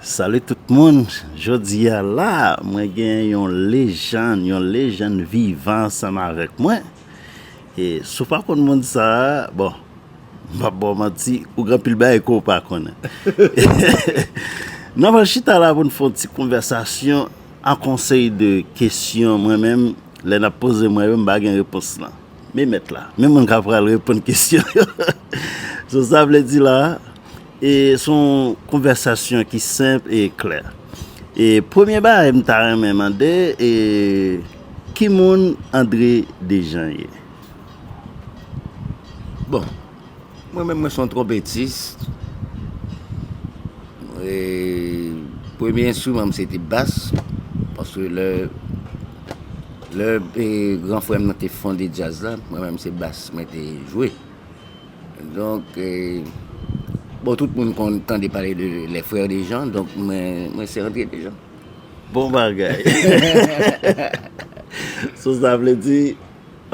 Salut tout moun jodia la mwen gen yon lejann yon lejann vivan ansanm avèk mwen e si w pa konn moun sa bon m pap ba w manti ou gen anpil bagay ke w pa konnen nan pral chita la pou n fè yon ti konvèsasyon an konsèy de kesyon mwen menm lè n ap poze mwen yo m pa gen repons lan men mèt la men moun k ap pral reponn kesyon yo sou sa vle di la. E son konvèsasyon ki senp e klè. E premye bagay m ta renmen mande e ki moun André Dejean ye? Bon, mwen menm mwen son twonpetis. E premye enstriman m se te bas. Paske lè lè gran frè m nan te fonde djaz la, mwen menm se bas mwen te jwe. Donk, bon tout moun konn tande pale de les frères de Jean, donk mwen se André de Jean. Bon bagay! So sa vle di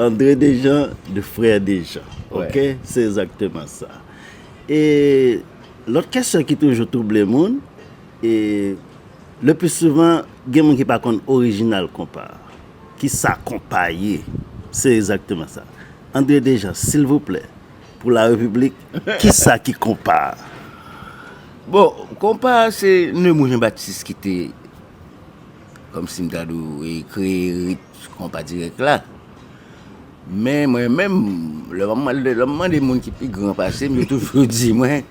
André de Jean de frères de Jean. Ok, se ezakteman sa. E lòt kesyon ki toujou twouble moun, e le plis souvan gen moun ki pa konn orijinal konpa a. Ki sa konpaye? Se ezakteman sa. Andre Dejan, silvouplè, pou la repiblik, ki sa ki konpa? Bon, konpa a se Nemou Jen Batis ki te, kòm si m ta di w, kreye rit konpa dirèk la. Men mwen menm, lè m ap mande moun ki pi gran pase m, yo toujou di mwen.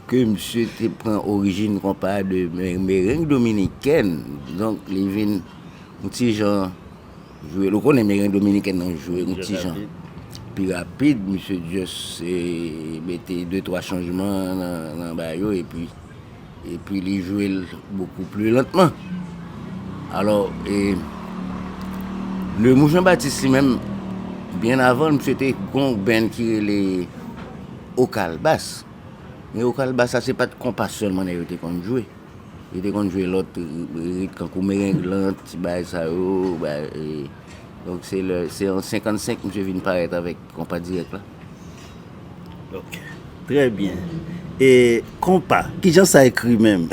ke misye te pran orijin konpa a de mereng dominikèn, donk li vin yon ti jan jwe, ou konnen mereng dominikèn lan jwe yon ti jan pi rapid, misye just mete de twa chanjman nan ba yo epi epi li jwe l bokou pli lantman alò e Lemou Janbatis li menm byen avan l misye te gen yon band ki rele Okalbas. Neo Kalbasa se pat konpa sèlman nèg yo te konn jwe. Yo te konn jwe lòt rit kankou mereng lan, ti bagay sa yo, bagay e. Donk se lè, se an 55 misye vin parèt avèk konpa dirèk la. Ok. Trè byen. E konpa, ki jan sa ekri menm?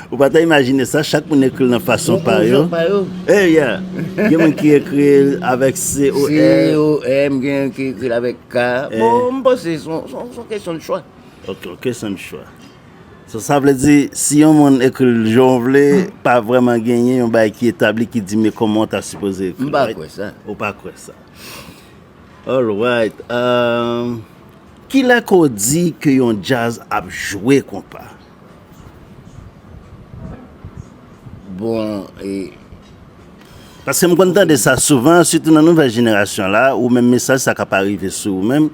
Ou pa ta imajine sa, chak moun ekri l nan fason pa yo. Nan fason pa yo. E ya! Gen moun ki ekri l avèk COM. COM, gen ki ekri l avèk. Ka, bon m panse se yon kesyon de chwa. Ok, yon kesyon de chwa. So sa vle di si yon moun ekri l jan w vle, pa vrèman genyen yon bagay ki etabli ki di men kòman w ta sipoze ekri l. M pa kwè sa. Ou pa kwè sa. Alright. Kilè ke w di ke yon djaz ap jwe konpa? Bon e Paske m konn tande sa souvan sitou nan nouvèl jenerasyon la ou menm mesaj sa ka pa rive sou ou menm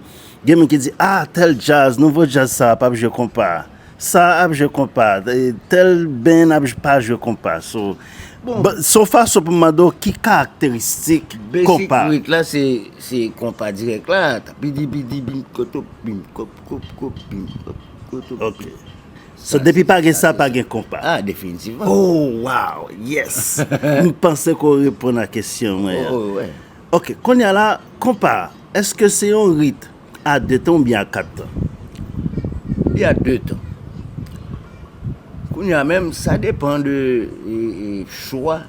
gen moun ki di a tèl djaz nouvo djaz sa a p ap jwe konpa sa a ap jwe konpa tèl band ap jwe pa jwe konpa so se yon fason pou m mande w ki karakteristik konpa basic rit la se konpa dirèk la tapidi pidi bim koto bim kop kop kop bim kop. Ok So depi pa gen sa pa gen konpa. Ah definitivman. Oh waw yes m panse ke w reponn a kesyon mwen an. Oh wè. Ok konnya la konpa eske se yon rit a 2 tan oubyen a 4 tan? Li a 2 tan. Konnya menm sa depan de chwa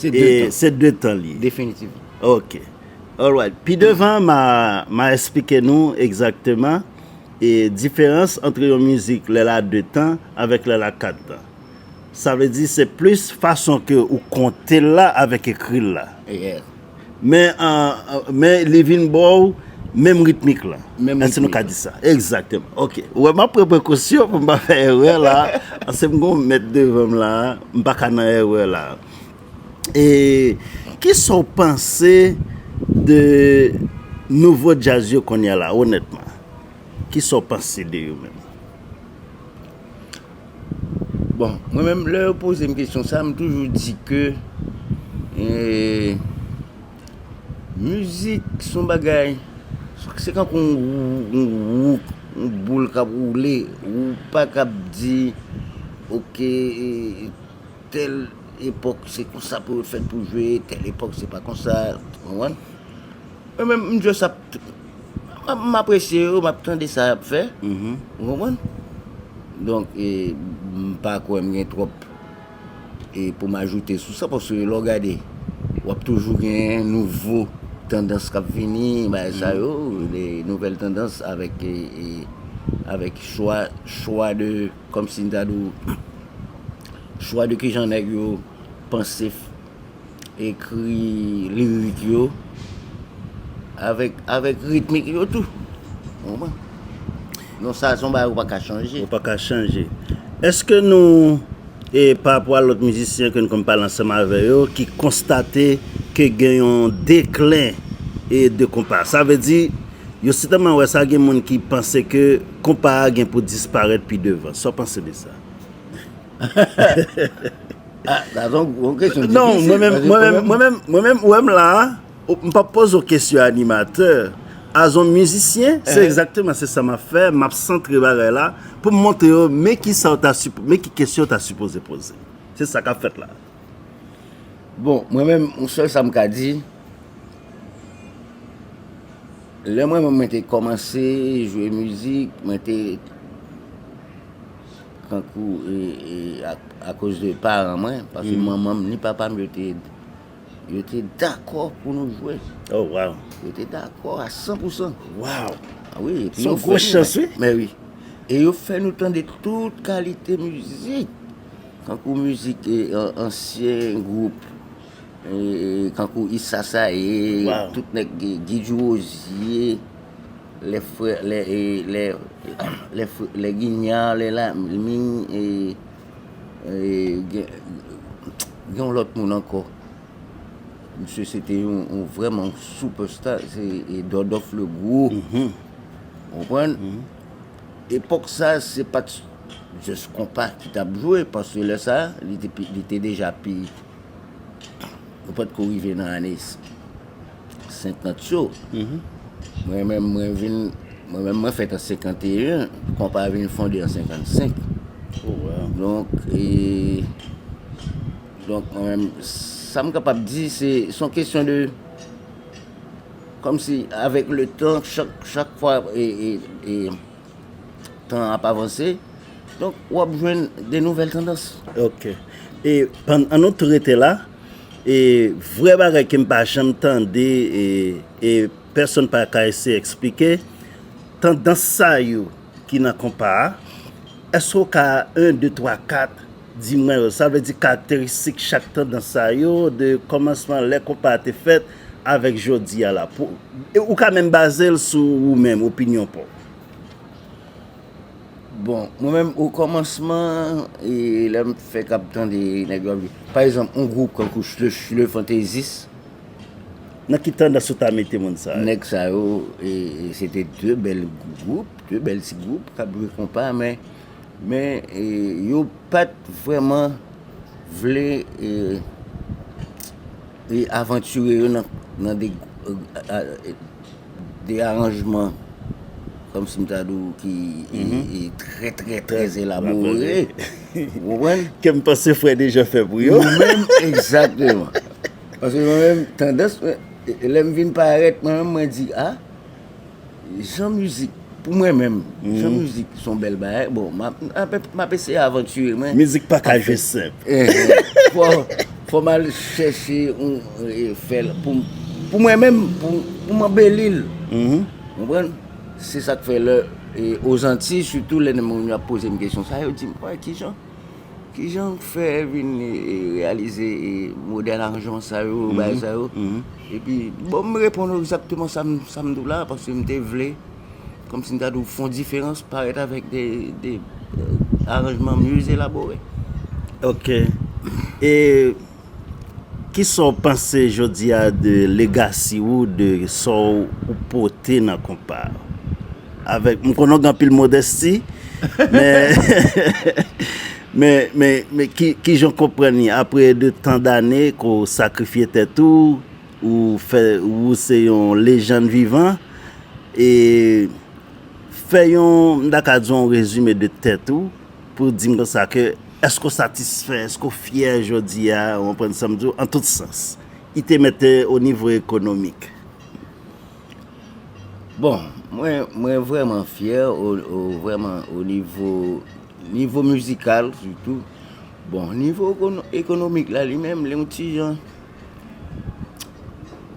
Se 2 tan li. Definitivman. Ok. Alright. Pi devan ma esplike nou egzakteman diferans antre yon mizik lè l a 2 tan avèk lè l a 4 tan. Sa vle di se plis fason ke ou konte l la avèk ekri l la. Men men li vin baw menm ritmik la. Menm ritmik la. Èske nou ka di sa? Egzakteman. Ok. Ou wè map pran prekosyon pou m pa fè erè la. Paske m gon mèt devan m la. M pa ka nan erè la. E kisa w panse de nouvo djaz yo kounye a la onètman? Kisa w panse de yo menm? Bon, mwen menm lè yo poze m kesyon sa, m toujou di ke mizik se yon bagay, se tankou yon wou, yon boul k ap woule, wou pa k ap di ok tèl epòk se konsa pou yo fèt pou jwe, tèl epòk se pa konsa, ou konprann? Mwen menm m just ap. M apresye yo, m ap tande sa y ap fè. Ou konprann? Donk, m pa kwè m gen twòp pou m ajoute sou sa paske lè w gade, w ap toujou gen nouvo tandans k ap vini, bagay sa yo, nouvèl tandans avèk chwa de, kòmsi m ta di w, chwa de kijan nèg yo panse. ekri lirik yo avèk ritmik yo tou. Ou konprann? Donk sa se yon bagay ou pa ka chanje. Ou pa ka chanje. Eske nou, e pa rapò a lòt mizisyen ke nou konn pale ansanm avè yo, ki konstate ke gen yon deklen e de konpa? Sa vle di, yo sitèlman wè sa gen moun ki panse ke konpa a gen pou disparèt pi devan. Sa w panse de sa? Non, mwen menm, mwen menm, mwen menm, mwen menm, ou wè m la a, m pa p poze w kesyon animatè, as on mizisyen, se egzakteman se sa m ap fè, m ap santre bagay la, pou m montre yo, men ki sa w ta sipoze, men ki kesyon w ta sipoze poze. Se sa k ap fèt la. Bon, mwen menm, m sèl sa m ka di, lè mwen menm mwen te kòmanse jwe mizik, mwen te. Tankou akoz de paran mwen, paske manman m ni papa m yo te dakò pou nou jwe. Oh wow! Yo te dakò a 100 pou 100. Wow! Ah wi, epi yo fè nou. Son gwo chans wi. Men wi. E yo fè nou tande tout kalite mizik. Tankou mizik ansyen gwoup Kankou is sasaye tout nèg guy du rosier lè frè lè ginyard lè lami gen yon lòt moun ankò misye se te yon vrèman yon super star se dòdòf le gro konprann epòk sa se pat just konpa ki tap jwe paske lè sa li te deja pi Yo pat ko rive nan ane 50 yo. Mwen menm mwen vin mwen menm mwen fèt an 51, konpa vin fonde an 55. Oh wow. Donk e donk mwen menm sa m kapab di se son kesyon de kòm si avèk le tan chak chak fwa e e e tan ap avanse, donk w ap jwenn de nouvèl tandans. Ok. E pann an nou tou rete la, e vrè bagay ke m pa janm tande e e pèsonn pa ka eseye eksplike, tandans sa yo ki nan konpa a, èske w ka 1, 2, 3, 4 di mwen yo? Sa vle di karakteristik chak tandans sa yo de kòmansman lè konpa a te fèt avèk jodi a la. Pou, ou ka menm baze l sou ou menm, opinyon pa w. Bon, mwen menm o kòmansman, e lèm fèk ap tande nèg yo ap jwe, pa egzanp, yon gwoup kankou Le Fantaisiste. Nan ki tandans ou ta mete moun sa yo? Nèg sa yo, se te de bèl gwoup, de bèl ti gwoup k ap jwe konpa men, men yo pa t vrèman vle avantire yo nan de... 2 aranjman kòm si m ta di w ki trè trè trè elabore. Ou konprann? Ke m panse frè Dejan fè pou yo. Mwen menm, egzakteman. Paske mwen menm, tandans mwen, lè m vin parèt mwen menm mwen di a, jan mizik Pou mwen menm, jwe mizik son bèl bagay, bon, map eseye avanture mwen. Mizik pa ka jwe senp. Fò mal chèche yon fèl pou mwen menm, pou m anbeli l. Konprann? Se sak fè lè ozanti, sitou lè moun ap poze m kesyon sa, yo di m, wè kijan? Kijan ou fè vin reyalize modèl aranjman sa yo, bagay sa yo? Epi, bon, m reponn ou egzakteman sa m di w la, paske m te vle, kòm si m ta di w, fè yon diferans, parèt avèk de aranjman mye elabore. Ok. E. Kisa w panse jodi a de legasi ou de sa ou pote nan konpa a? Avèk m konnen w gen anpil modesti men men men kijan w konprann li apre de tan dane ke w sakrifye tèt ou ou fè ou se yon lejann vivan e fè yon m ta ka di w yon rezime de tèt ou. Pou w di m konsa ke èske w satisfè, èske w fyè jodi a, ou konprann sa m di w, an tout sans. I te mete o nivo ekonomik. Bon, mwen, mwen vrèman fyè o, o vrèman o nivo, nivo mizikal sitou. Bon, nivo ekonomik la li menm, li yon ti jan,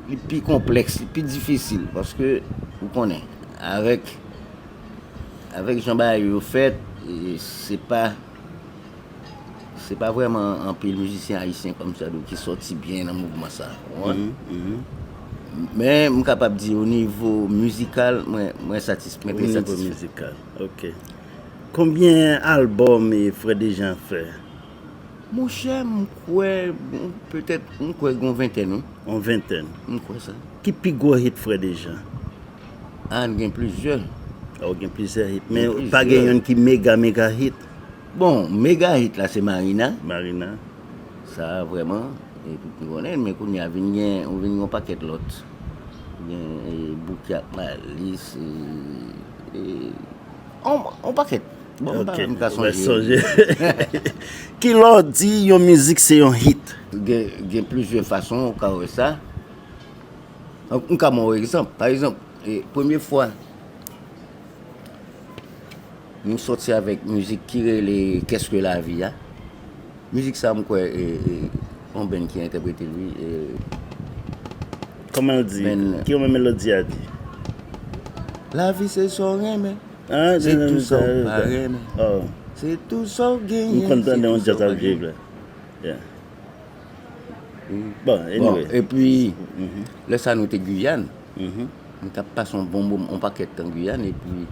li pi konplèks, li pi difisil paske ou konnen avèk. Avèk jan bagay yo fèt, se pa se pa vrèman anpil mizisyen ayisyen kòmsadwa ki sòti byen nan mouvman sa. Ou konprann? Men, m kapab di o nivo mizikal, mwen satisfè. O nivo mizikal, ok. Konbyen albòm Frè Dejean fè? Monchè, m kwè, petèt, m kwè gen yon ventèn wi. Yon ventèn? M kwè sa. Ki pi gwo hit Frè Dejean? Anh gen plizyè. Oh gen plizyè hit men pa gen youn ki mega mega hit. Bon mega hit la se marina. Marina. Sa vrèman e tout moun konnen l men kounye a vin gen ou vin gen yon pakèt lòt gen bouki ak malis e yon pakèt bon m pa menm ka sonje. Kilè w di yon mizik se yon hit? Gen plizyè fason ou ka wè sa. M ka ban w egzanp. Pa egzanp, premye fwa m soti avèk mizik ki rele Qu'est-ce que la vie a, mizik sa m kwè e yon band ki entèprete l wi e. Kòman l di? Kijan melodi a di? Lavi se sa w renmen, se tou sa w pa renmen. Se tou sa w genyen, se tou sa w pa genyen. M konn tande yon djaz ap jwe vre. Bon, epi, lè sa nou te Guyane, nou t ap pase yon bon moman, yon pakèt tan Guyane, epi,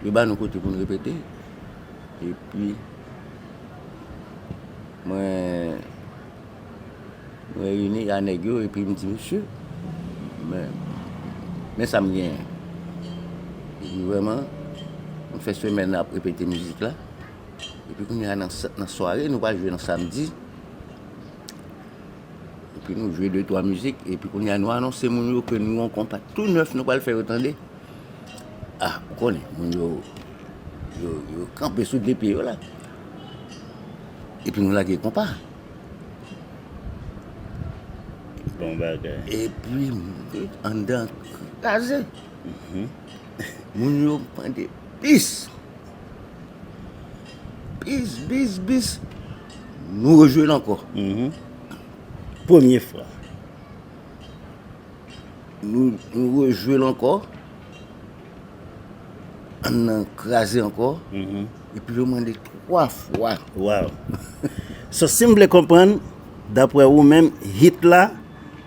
yo ba nou kote pou nou repete, epi, mwen, mwen reyini a nèg yo, epi m di, mesye, men, men sa m genyen, epi vrèman, m fè semèn nan ap repete mizik la. Epi kounya nan sware nou pa jwe nan samdi. Epi nou jwe 2 3 mizik epi kounya nou anonse moun yo ke nou yon konpa tou nèf nou pral fè yo tande. Ah, ou konnen moun yo yo kanpe sou 2 pye yo la. Epi nou lage konpa. Bon bagay. Epi anndan kraze. Moun yo mande bis. Bis, bis, bis. Nou rejouel anko. Mhm. Premye fwa. Nou rejouel anko. An nan kraze anko. Mhm. E pi yo mande 3 fwa. Waw. So sim vle konprann, dapre ou menm, hit la,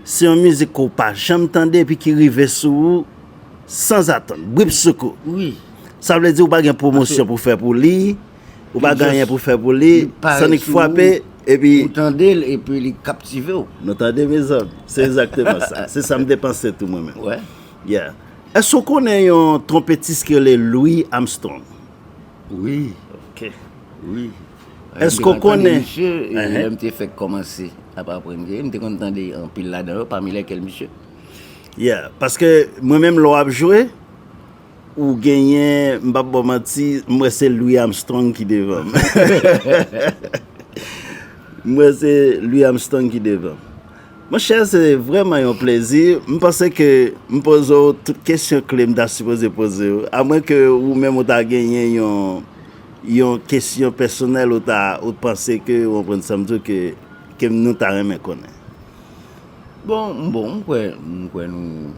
se yon mizik ke ou pa janm tande e pi ki rive sou ou. Sanzatann. Bripsoukou. Wi. Sa vle di ou pa gen pwomosyon pou fè pou li, ou pa gen anyen pou fè pou li, Sonic fwape, epi. Ou tande l epi li kaptive ou. Nou tande mezanmi? Se egzakteman sa. Se sa m te panse tou mwen menm. Wè? Yeah. Èske ou konnen yon twonpetis ki rele Louis Armstrong? Wi. Ok. Wi. Èske ou konnen. M te konn tande misye lè m te fèk kòmanse ap aprann jwe. M te konn tande anpil ladan yo, pami lèkèl misye. Yeah paske mwen menm lè wap jwe ou genyen m pap baw manti m wè se Louis Armstrong ki devanm m wè se Louis Armstrong ki devanm monchè se vrèman yon plezi m panse ke m poze w tout kesyon kle m ta sipoze poze w a mwen ke ou menm ou ta genyen yon yon kesyon pèsonèl ou ta ou t panse ke ou konprann sam di w ke ke m nou ta renmen konnen. Bon m bon m kwè m kwè nou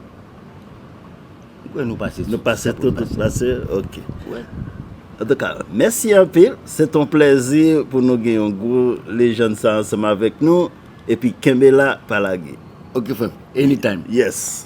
m kwè nou pase Nou pase tout tout pase ok wè an tou ka mèsi anpil se t on plèzi pou nou gen yon gwo lejann sa ansanm avèk nou epi kenbe la pa lage ok frè m any time yes.